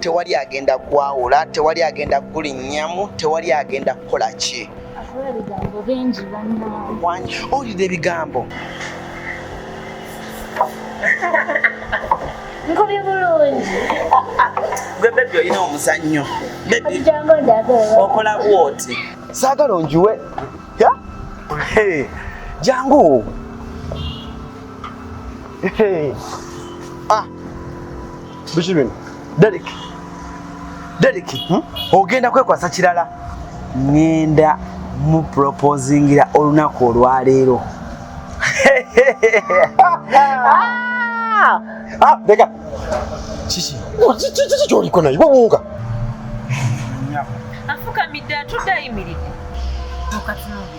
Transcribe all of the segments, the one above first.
tewali agenda kwawula tewali agenda kulinnyamu tewali agenda kukola ki owulira ebigambo nkubye bulungi gwe bebi olina omuzannyo okola bwoti saagala onjuwe jangu ah. biki bino Derek Derek hmm? ogenda kwekwasa kirala ngenda mu proposingira olunaku olwaleero deka ah, kiki oh, kyoliko naye wawunga afukamidde atudde ayimiridde mukatunubi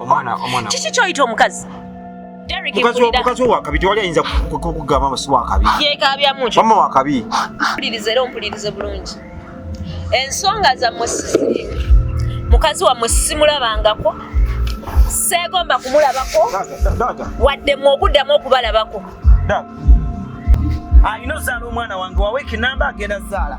omwana omwana kiki kyoyita omukazi mukazi wo wakabi tewali ayinza kukugamba masi wakabi mama wakabi mpuliriza era ompulirize bulungi ensonga zammwe sisirimu mukazi wammwe simulabangako seegomba kumulabako wadde mwe okuddamu okubalabako alina ozaala omwana wange waweeka enamba agenda zaala